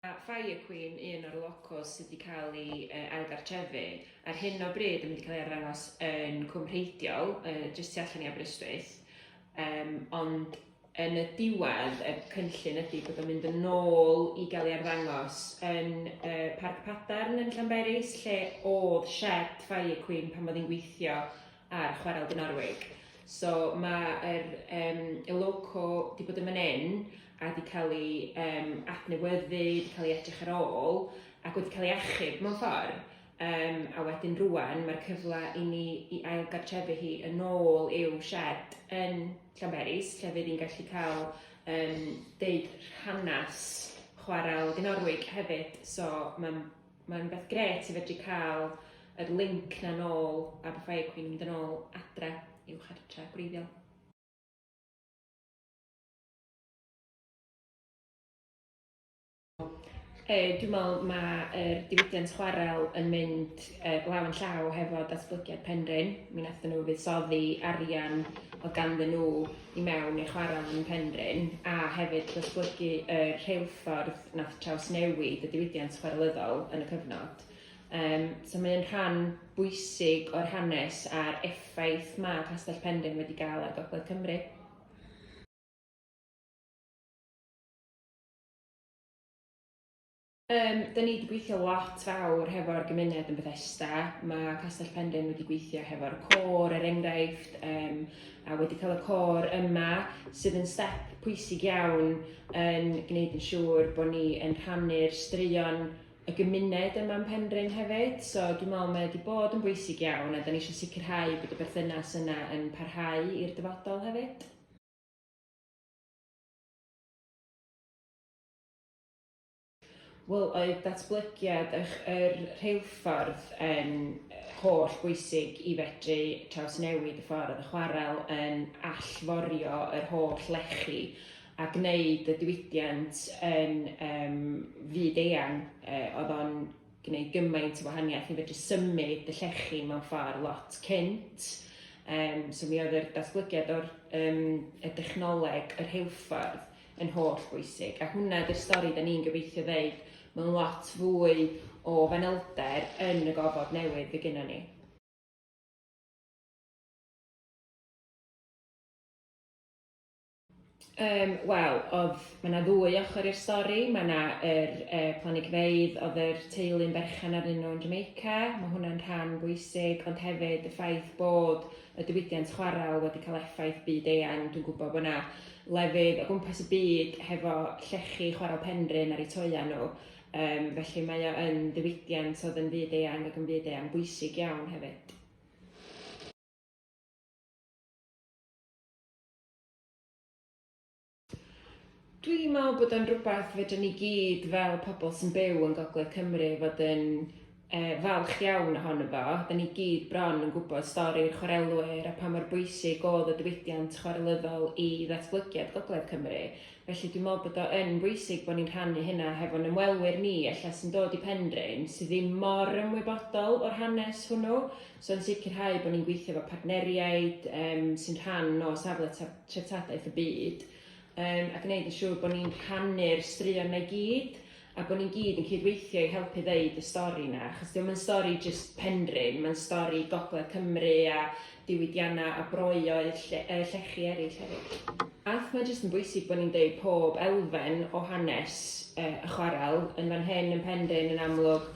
Mae Fire Queen, un o'r locos sydd wedi cael ei ailgartrefu, ar hyn o bryd yn mynd i cael ei arddangos yn Cwm Rheidiol, jyst tu allan i Aberystwyth. Um, ond yn y diwedd, y cynllun ydy bod o'n mynd yn ôl i gael ei arddangos yn uh, Parc Padarn yn Llanberis, lle oedd shed Fire Queen pan oedd hi'n gweithio ar Chwarel Dinorwig. So mae'r um, Eloco wedi bod yn fan hyn a wedi cael ei um, adnewyddu, wedi cael ei edrych ar ôl ac wedi cael ei achub mewn ffordd. Um, a wedyn rwan mae'r cyfle i ni i ail gartrefu hi yn ôl i'w shed yn Llanberis, lle fydd hi'n gallu cael um, deud rhanas chwarel Dinorwig hefyd. So mae'n Mae'n beth gret i fedru cael yr linc na nôl a beth fai cwyn mynd yn ôl adre i'w chartre gwreiddiol. E, dwi'n meddwl mae'r diwydiant chwarel yn mynd e, law yn llaw hefo datblygiad Penrhyn. Mi wnaethon nhw fuddsoddi arian o ganddyn nhw i mewn i'r chwarel yn Penrhyn a hefyd datblygu y rheilffordd nath trawsnewid y diwydiant chwarelyddol yn y cyfnod. Um, so mae'n rhan bwysig o'r hanes a'r effaith mae Castell Penrhyn wedi gael ar Gogledd Cymru. Yym, da ni wedi gweithio lot fawr hefo'r gymuned yn Bethesda. Mae Castell Pendyn wedi gweithio hefo'r côr, er enghraifft, um, a wedi cael y côr yma, sydd yn step pwysig iawn yn gwneud yn siŵr bod ni yn rhannu'r straeon y gymuned yma yn Penrhyn hefyd. So dwi'n meddwl mae wedi bod yn bwysig iawn a da ni eisiau sicrhau bod y berthynas yna yn parhau i'r dyfodol hefyd. Wel, oedd datblygiad yr rheilffordd yn holl bwysig i fedru trawsnewid y ffordd y chwarel yn allforio yr holl lechi a gwneud y diwydiant yn um, fyd eang. Uh, oedd o'n gwneud gymaint o wahaniaeth i fedru symud y llechi mewn ffordd lot cynt. Um, so mi oedd yr datblygiad o'r um, y dechnoleg yr heilffordd yn holl bwysig a hwnna ydy'r stori da ni'n gobeithio ddeud mewn lot fwy o fanylder yn y gofod newydd fydd gynnon ni. Um, Wel, oedd, mae yna ddwy ochr i'r stori. Mae yna yr e, planigfeydd oedd yr teulu'n berchen arnyn nhw yn Jamaica. Mae hwnna'n rhan bwysig, ond hefyd y ffaith bod y diwydiant chwarel wedi cael effaith byd eang. Dwi'n gwybod bod yna lefydd o gwmpas y byd hefo llechi chwarel Penrhyn ar eu toeau nhw, um, felly mae o yn ddiwydiant oedd yn fyd eang ac yn fyd eang bwysig iawn hefyd. Dwi'n meddwl bod o'n rwbeth fedrwn ni gyd fel pobol sy'n byw yn gogledd Cymru fod yn yy falch iawn ohono fo, 'dan ni gyd bron yn gwbod stori'r chwarelwyr a pa mor bwysig o'dd y diwydiant chwarelyddol i ddatblygiad gogledd Cymru, felly dwi'n meddwl bod o yn bwysig bo' ni'n rhannu hynna hefo'n ymwelwyr ni ella sy'n dod i Penrhyn sy' ddim mor ymwybodol o'r hanes hwnnw, So yn sicrhau bod ni'n gweithio efo partneriaid um, sy'n rhan o safle treftadaeth y byd um, a gwneud yn siŵr bod ni'n rhannu'r straeon na i gyd a bod ni'n gyd yn cydweithio i helpu ddeud y stori yna, achos diolch yn stori jyst penrhyn, mae'n stori gogledd Cymru a diwydiannau a broeoedd lle, uh, llechi eraill hefyd. Ath mae jyst yn bwysig bod ni'n deud pob elfen o hanes uh, y chwarel yn fan hyn yn penrhyn yn amlwg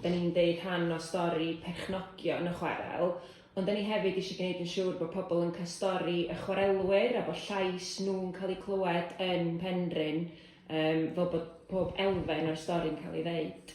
'da ni'n deud rhan o stori perchnogion y chwarel, ond 'da ni hefyd eisiau gwneud yn siŵr bod pobl yn cael stori y chwarelwyr a bod llais nhw'n cael eu clywed yn Penrhyn, fel bod pob elfen o'r stori'n cael ei ddeud.